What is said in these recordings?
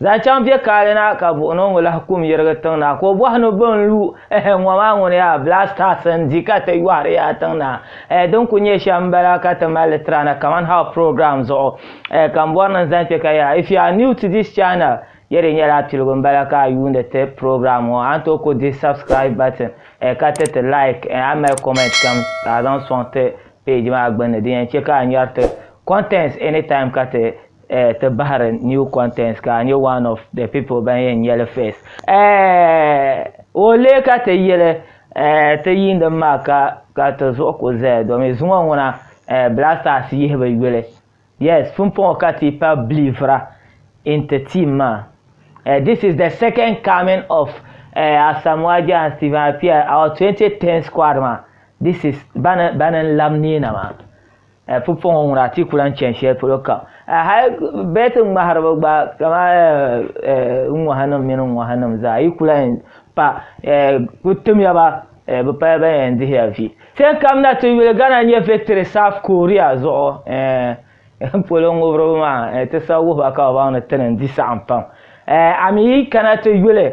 Zaŋ chaŋ bɛ kaali na ka buɣi ni o ŋɔ lahi kum yirigi tiŋ na ka o bɔhi ni bɛ n-lu ɛhɛ ŋɔ maa ŋuni yaa blasters n-di ka ti yɔhiri yaa tiŋ na ɛhɛ din kuli nyɛ shɛm m-bala ka ti mali li tira na kaman how program zuɣu ɛhɛ ka m bɔri ni n zaŋ kpe ka yaa if you are new to this channel ya di nyɛla piligu m-bala ka a yuuni ti program ŋɔ a ni tooi ku di subscribe button ɛhɛ ka ti ti like ɛhɛ a ni mali comment kam ka a zaŋ sɔŋ ti page maa gbunni din yɛn che ka a nyari ti contents anytime ka ti eh, ti bahiri new contents ka a nyɛ one of the people ban yɛn nyɛli first. Eh, o lee ka ti yili eh, ti yiindim maa ka ka ti zuɣu ku zaya domi zuŋɔ ŋuna eh, Black Stars yihibu yuli. Yes, pumpɔŋɔ ka ti pa believera in ti team maa. Eh, this is the second coming of eh, Asamoah Agyehi and Stephen Appiah, our 2010 squad maa. This is bani bani n-lab neena maa. Eh, pupuɣiŋɔ ŋuna a ti ku lan chani shɛli polo kam. Eh, hal bɛt ŋmahiriba gba, kama eh, eh, ŋɔhanim mini ŋɔhanim zaa, yi ku lan yɛn pa, eh, ku timiya ba, eh, bɛ pala ban yɛn dihi ya vi. Tin kam na ti yuli Ghana nya victory South Korea zuɣu, eh, polo ŋubiriba maa, eh, ti sa wuhiba ka bɛ baŋ ni tini n-di saɣim pam. Eh, a mi yi kana ti yuli.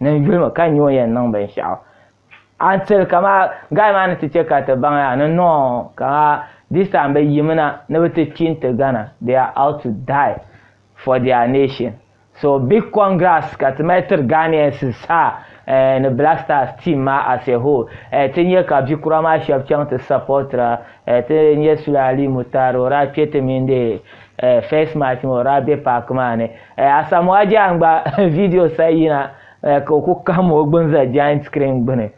Niŋ yulimi ka nyo yɛn niŋ binshɛɣu. Until kama guy maa ni ti che ka ti baŋ ya ni no ka this time bɛ yimi na ni bɛ ti kpi nti Ghana they are out to die for their nation so big congrats ka ti mali tiri Ghanaians zaa eh, ni Black Stars team maa as a whole eh, ti nya ka bikura maa shɛba chaŋ ti supportira eh, ti nya Sule Ali Mutar o daa kpe ti mini eh, first match maa o daa be park maa ni Eh, Asamoah Gyan gba video sa yina eh, ka o ku kahim o gbuni za giant screen gbuni.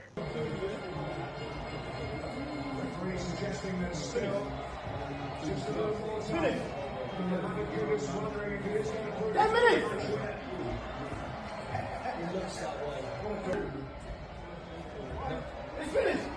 It's finished.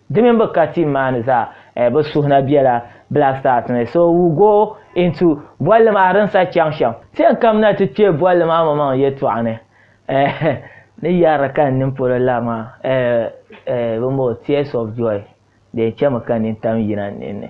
Di mini bɛ ka team maa ni zaa bɛ suhu na bela Black Stars ni so will go into bolli maa rinsa chaŋ shɛm. Ti yɛn kamina ti kpe bolli maa maŋmaŋ yɛltɔɣa ni eh ni yɛri ka n nini polo lari maa eh eh bimbo tears of joy din chemi ka nini tam yina n ninni.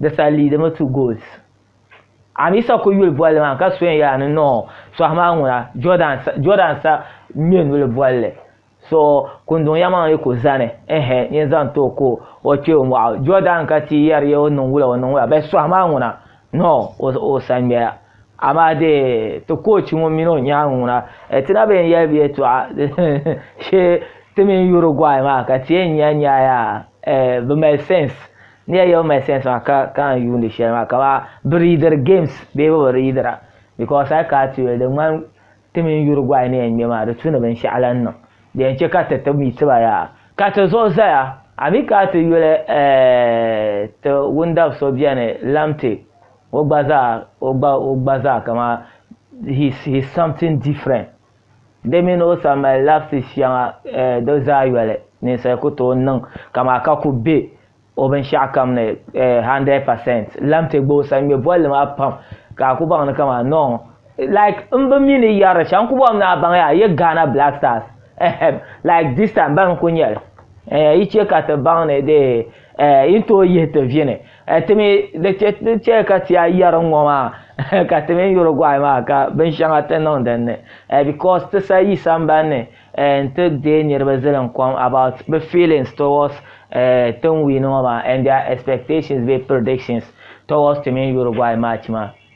di saa liidimi two goals amisa kuli yuli bolli maa ka so yaa ni no sohi maa ŋuna jordan jordan sa ŋmɛ nuli bolli so kunduŋ ya maŋ yi ku zani ehe nyin zaŋ to ko o kpɛ o mɔɣu jordan ka ti yɛri ya o niŋ wula o niŋ wula bɛ sohi maa ŋuna no o sa ŋmɛya Amaa di ti koochi ŋun mini o nyaaŋa ŋuna, ti na bi yɛn yɛli bɛ yɛtɔɣa shee ti mini Uruguay maa ka ti yɛn nya ni a yaa eh, bi mali sense. Ni ya yɛli bi mali sense maa ka ka n yuundi shɛli maa kamani bi riidiri games bee bi bi riidira because a yi kana ti yuli di ŋmani ti mini Uruguay ni yɛn ŋme maa di tu ni binshɛɣu lahi niŋ di yɛn chɛ ka ti ti mi ti ba yaa ka ti zuɣu zaya a mi kana ti yuli eh, ti wundabi so beni Lamte. o gba zaa o gba o gba zaa kama he's he's something different di mini o san mali lapses shɛŋa eh, di zaa yɔli ninsali ku tooi niŋ kama ka ku be o binshaɣu kam ni eh, 100 percent lamte gba o san ŋmɛ bolli maa pam ka a ku baŋ ni kama no like n bi mi ni yɛri shɛm ku bɔm ni a baŋ ya a ye Ghana Black Stars ehem like this time ban ku nyɛli eh, yi chɛ ka ti baŋ ni dee eh, yi ni tooi yihi ti vini Ti mi di chɛ ka ti a yɛri ŋɔ maa ka ti mini Uruguay maa ka binshɛŋa ti niŋ din ni because ti sa yi sambani ni n-ti deei niriba zilim kom about bɛ feelings towards ti ni win ŋɔ maa and their expectations bee predictions towards ti mini Uruguay match maa.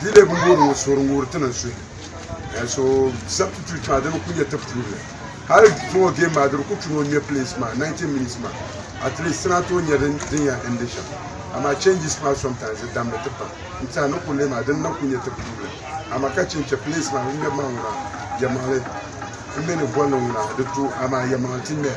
Di lebu n wuhiri ŋɔ sori n wuhiri ti niŋ suhi and so substitute maa di bi ku nyɛ ti puuni hali zuŋɔ game maa di di ku chuni o ŋmɛ place maa 90 minutes maa at least ti na tooi nyɛ din din yan endi shɛm amaa changes maa sometimes di dammi ti pam n tiɛha ni kurili maa din na ku nyɛ ti puuni amaa ka chin chɛ place maa ŋun ŋmɛbu maa ŋuna yɛmaŋli n mini bolli ŋuna di to amaa yɛmaŋli ti ŋmɛya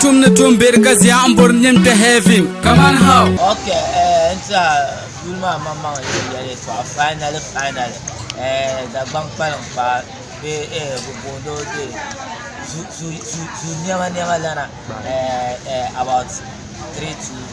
Tumni tumbiri ka zia n bori nim kpɛ heaven kaman how ok eh, n tiɛha duli maa maŋ maŋ yɛli yɛli tɔɣa finally finally eh, dagbaŋ kpalim paai bɛ eh, bɛ booni o de zu zu zu zu niɛma niɛma lana eh, eh, about three two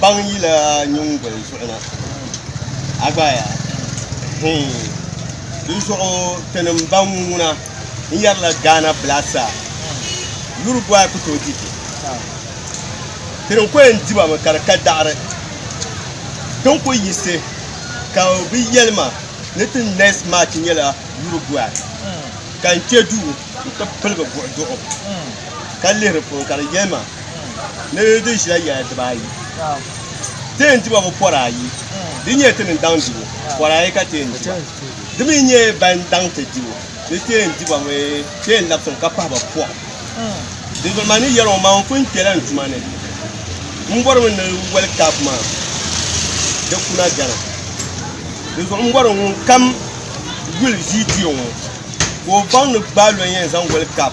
baŋ yila nyingoli zuɣu na agbaya di zuɣu tinim baŋ ŋuna n yɛrila gaana blasa yuri bɔy ku tooi diti tinim ku yɛn diba mi ka di ka daɣari tin ku yisi ka bi yɛlima ni ti next match nyɛla yuri bɔy ka n kpe duu n ti piligi buɣi duɣu ka lihiri puuni ka di yɛlima ni di ʒila yɛla dibaayi teen diba ŋɔ pɔri ayi di nyɛ ti ni daŋ dibu pɔri ayi ka teen diba di mi nyɛ ban daŋ ti dibu ni teen diba mi teen labisiŋ ka pahi ba pɔɣu di zuɣu maa ni yɛli ŋɔ maa n pun kpɛla n tuma ni n bɔri mi ni World Cup maa di kuna gana di zuɣu n bɔri ŋun kam yuli viidiyo ŋɔ ka o baŋ ni gbaai lɔn yɛn zaŋ World Cup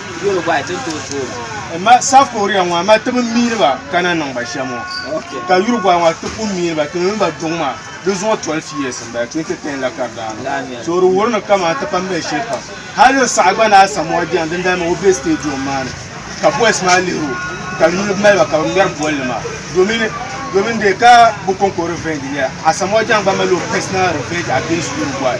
Dole gba ti to tuuma. Ma South Korea ŋɔ ma tibi miini ba ka na niŋ ba shɛm ŋɔ. Okay. Ka Uruguay ŋɔ ti ku miini ba tiŋ ba duŋ maa di zuŋɔ 12 years n bala 2010 la ka di daa niŋ. So di wuhiri ni kaman ti pam bɛ shɛli pam. Hali n saɣa gba ni Asamoah Gyan din dali maa o be stadium maa ni ka boys maa lihiri o ka di nini mali ba ka bɛ ŋmɛri bolli maa domin domin dee ka bɛ kon ko revenge n-nyɛ Asamoah Gyan gba mali o personal revenge against Uruguay.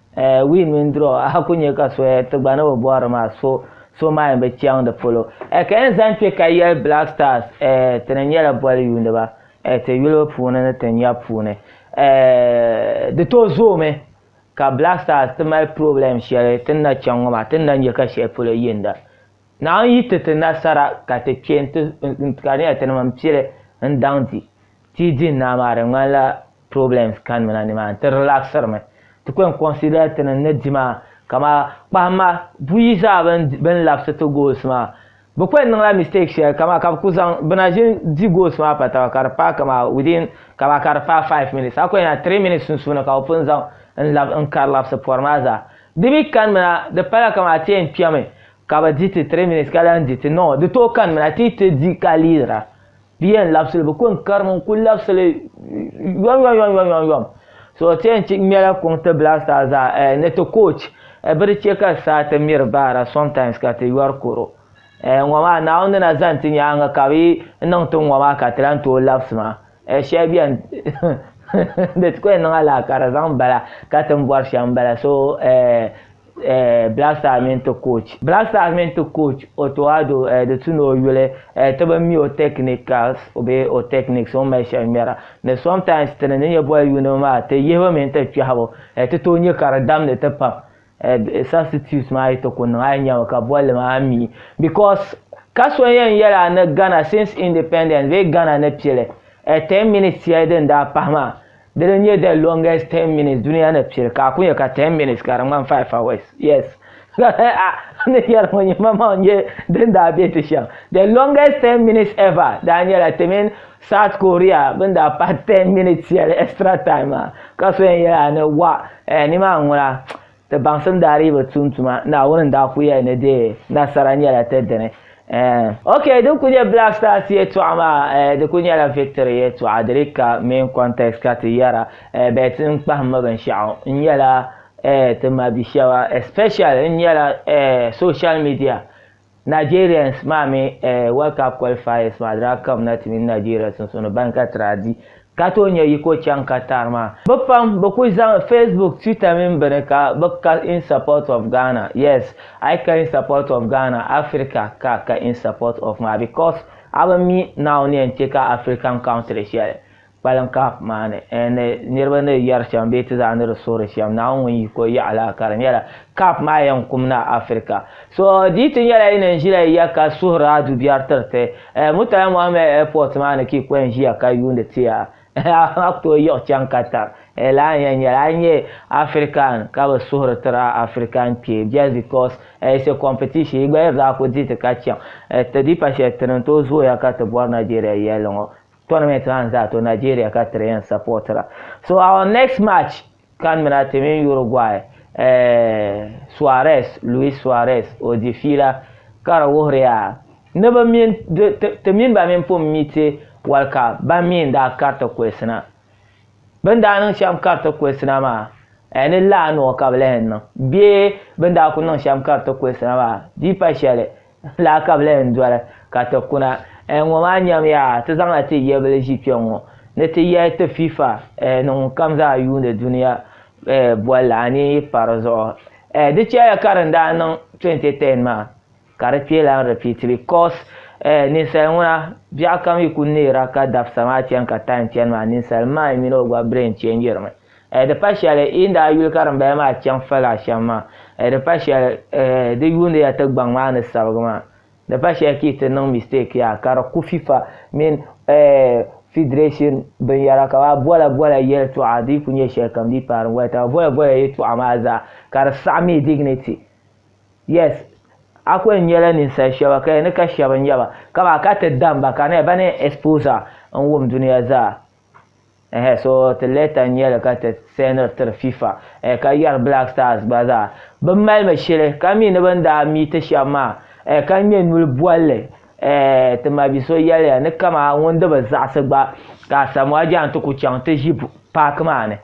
Eh, win mini draw, a ku nya ka soya ti gba ni bi bɔhiri maa so so maa yɛn bi chaŋ di polo. Eh, ka yɛn zaŋ kpe ka yɛli Black Stars, eh, ti ni nyɛla boli yuuniba, eh, ti yuli puuni ni ti nya puuni, eh, di tooi zoomi ka Black Stars ti mali problem shɛli ti ni na chaŋ ŋɔ maa, ti ni na nya ka shɛli polo yinda. Naawuni yi ti ti nasara ka ti kpe n-ti, ka di nyɛla ti ni mini pili n-daŋ di. Ti din naa maa di ŋmanila problems kani mi na ni maa ni, ti relaxiri mi. Ti kwen consider ti ni ni di maa kamaa kpahim ma buyi zaa ben ben labisi ti goals maa. Be kwen niŋla mistake sheli kamaa ka be kuli zaŋ be na ʒin di goals maa pa taba ka di paai kamaa within kamaa ka di paai five minutes a kwen nya three minutes sunsuuni ka be pun zaŋ n lab n kari labisi pori maa zaa. Di mi kani mi na di pala kamaa ti yen kpemi ka be di ti three minutes ka lahi di ti no di tooi kani mi na ti yi ti di ka leadira. Di yɛn labisili bi kɔŋ karimi n kuli labisili yɔm yɔm yɔm yɔm yɔm so ti yɛn ŋmɛla kɔŋ ti blaster zaa eh, ni ti coach eh, bi di chɛ ka saa ti miri baara sometimes ka ti yɔri koro eh, ŋɔ maa Naawuni ni na zani ti nyaaŋa ka bi niŋ ti ŋɔ maa ka ti lan tooi labisi maa eh, shɛli bɛn di ti ko yɛn niŋ alahi ka di zaŋ bala ka ti ni bɔri shɛm bala so eh, eh, Black Stars mini ti coach Black Stars mini ti coach Otto Addo eh, di tu ni o yuli eh, ti bi mi o technicals bee o techniques o ni mali shɛli ŋmɛra ni sometimes ti ni ni nyɛ bɔl yuuni maa ti yihibu mini ti kpɛhibu eh, ti tooi nyɛ ka di damdi ti pam eh, substitute maa yi ti ku niŋ a yi nyɛmi ka bolli maa mi because ka so yɛn yɛla ni Ghana since independence bee Ghana ni pili eh, 10 minutes yɛli din daa pahi maa Dini n nyɛ the longest 10 minutes duniya ni pili ka a ku nyɛ ka 10 minutes ka di ŋmani 5 hours. Yes. A ni yɛli ŋɔ nyɛ ma maŋ nyɛ din daa be ti shɛm. The longest 10 minutes ever daa nyɛla ti mini South Korea bini daa pahi 10 minutes shɛli extra time maa ka so yɛn yɛli a ni wah eh nimaa n ŋuna. Ti baŋsim daa dii bi tum tuma, Naawuni n daa ku yɛli ni di nasara nyɛla ti dini. Eh. Ok, din ku nyɛ Black Stars yɛltɔɣa maa, eh, di ku nyɛla victory yɛltɔɣa, di dii ka main context ka ti yɛra, eh, but n kpahimmi binshɛɣu, n nyɛla, eh, ti ma bi shɛba, especially n nyɛla, eh, social media, Nigerians maa mini eh, World Cup qualifiers maa di daa kam na ti mini Nigeria sunsuuni ban ka ti daa di ka tooi nya yi ko chaŋ Qatar maa. Bɛ pam bɛ kuli zaŋ Facebook, Twitter mini bini ka bɛ ka in support of Ghana, yes, a yi ka in support of Ghana, Africa ka a ka in support of maa because a bi mi Naawuni yɛn chɛ ka African country shɛli kpaliŋ Kahf maa ni ni niriba ni yɛri shɛm bee ti zaa ni di suhiri shɛm Naawuni ŋun yi ko yaɣa la ka di nyɛla Kahf maa yɛn kum na Afirika so di ti nyɛla yi ni n ʒila yiya ka suhiri a dubiɛri tiriti Murtala Muhammed Airport maa ni ka yi ko yɛn ʒiya ka yuuni ti ya amaa ku tooi yiɣi chaŋ Qatar lala n yɛn nyɛli a yi nyɛ Afirikan ka bi suhiri tiri a Afirikan kpee just because it's a competition yi gba yi daa ku di ti ka chaŋ ti di pa shɛli ti ni tooi zooya ka ti bɔri Nigeria yɛlli ŋɔ tournament maa n zaa to Nigeria ka tiri yɛn supportira so our next match kan mina ti mini Uruguay eh, Suarez Luis Suarez o di fiila ka di wuhiriya ni bi min ti mini ba min pun mi ti wali ka ba mi n daa kariti kulisina bin daa niŋ shɛm kariti kulisina maa eh, ni laa noo ka bi lahi niŋ bee bin daa ku niŋ shɛm kariti kulisina maa di pa shɛli Lala ka bɛ lahi yɛn doli ka ti kuna. Eh, ŋɔ maa nyam ya, ti zaŋla ti yɛbili ʒi kpɛŋŋɔ ni ti yɛli ti FIFA, eh, ni ŋunkam zaa yuuni dunia, eh, bolli, a ni yi pa di zuɣu. Eh, di chɛliya ka din daa niŋ 2010 maa, ka di kpee lan repeat because, eh, ninsal ŋuna, biɛɣukam yi ku neera ka dabisa maa chani ka time chani maa, ninsal mind mini o gba brain change-ri mi. Eh, di pa shɛli yi ni daa yuli ka dimbaya maa chaŋ fali a shɛm maa. Eh, di pa shɛli, eh, di yuuni ya ti gbaŋ maa ni sabigi maa. Di pa shɛli ka yi ti niŋ mistake yaa ka di ku FIFA mini, eh, federation binyɛra ka ba bola bola yɛltɔɣa di yi ku nyɛ shɛlikam di yi paai din gba taba bola bola yɛltɔɣa maa zaa ka di saɣi mi dignity. Yes, a ku yɛn nyɛla ninsal shɛba ka yɛn ni ka shɛba n-nyɛ ba, kaman a ka ti dam ba ka na ya ba ni yɛn expose a n-wum duniya zaa. so ti leta n nyɛli ka ti sɛniri tiri fifa ka yɛri black stars gba zaa bi malimi shili ka mi ni bin daa mi ti shɛba maa ka ŋmɛ nuli bolli ti mabi so yɛliya ni kama ŋun di bi zaɣisi gba ka Asamoah Gyan ti ku chaŋ ti ʒi paaki maa ni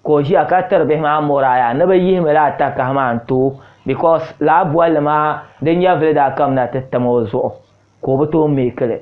ka o ʒiya ka tiri bihi maa moraa yaa ni bi yihimi la atakahi maa n tooi because laa bolli maa di nyɛvili daa kamina ti tam o zuɣu ka o bi tooi make li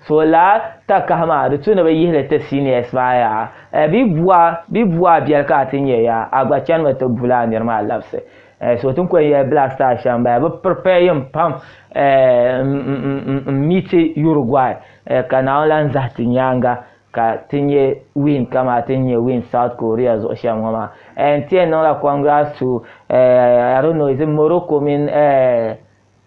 so laa takahi maa di tu ni bi yihi li ti seniors maa yaa eh, bi bua bi bua biɛli ka a ti nyɛ yaa a gba chanimi ti bu laa niri maa labisi eh, so tin kuli yɛli black star shɛm baya bi prepare yim pam eh, n miti Uruguay eh, ka naawuni lan zahi ti nyaanga ka ti nyɛ win kama ti nyɛ win south korea zuɣu shɛm ŋɔ maa eh, n tiɛn niŋla congrats to eh, i don't know is it morocco mini eh,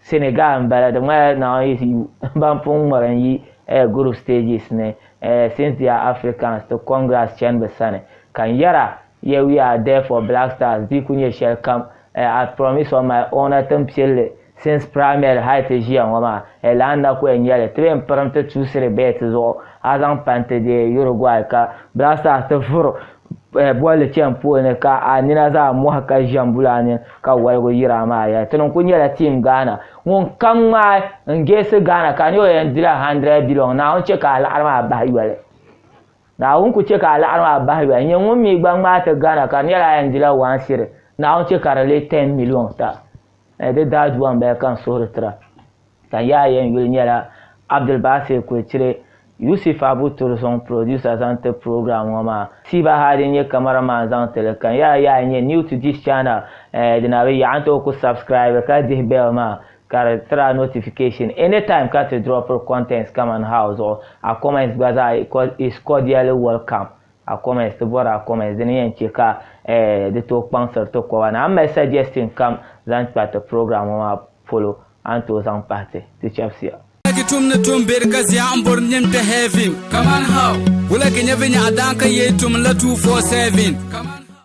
Senegal n bala di ŋmanila now is you ban pun ŋmari n yi eh, group stages ni eh, since they are Africans ti congrats chani bi sani ka n yɛra yeah we are there for Black Stars di ku nyɛ shɛli kam eh, I promise on my honour tin piɛlli since primary hali ti ʒiya ŋɔ maa eh, lana na ku eh, nyɛli ti bɛn pirim ti tuusiri bɛɛti zuɣu a zaŋ panti deei Uruguay ka Black Stars ti vuri Eh, bolli chɛn polo ni ka a nina zaa mɔhi ka ʒɛm bulaa ni ka waligu yiri a maa yɛli. Tini n-kuli nyɛla Team Ghana. Ŋun kam ŋmaai n-geesi Ghana ka a nya o yɛn dila hundred billion. Naawuni chɛ ka a laɣiri maa bahi yoli. Naawuni kuli chɛ ka a laɣiri maa bahi yoli. Nyɛ ŋun mi gba ŋmaai ti Ghana ka di nyɛla a yɛn dila one cedi. Naawuni chɛ ka di leei ten million ta. Eh, di daadua m-bala ka n suhiri tira. Ka yaa yɛn yuli nyɛla Abdulbasir Kultire, Yusuf Abu Tursong producer zaŋ ti program ŋɔ maa. Siba Hadi n-nyɛ camera man zaŋ ti li. Ka yaa yaa nyɛ new to this channel eh dina bi yaɣi n ti o ku subscribe ka dihi bell maa ka di tiri a notification anytime ka ti dropiri contents kaman how zuɣu. A comments gba zaa is cordially welcome a comments ti bɔri a comments di ni yɛn che ka eh di tooi kpaŋsiri ti koba ni. A ni mali suggestion kam zaŋ kpa ti program ŋɔ maa polo. a ni tooi zaŋ pahi ti, ti chɛbisiya. Wulagi tum ni tum beri ka ziɛɣu m-bori nini ti heaven. Kaman how? Wulagi nyɛvinya a daan ka yee tum n-la two four seven. Kaman how?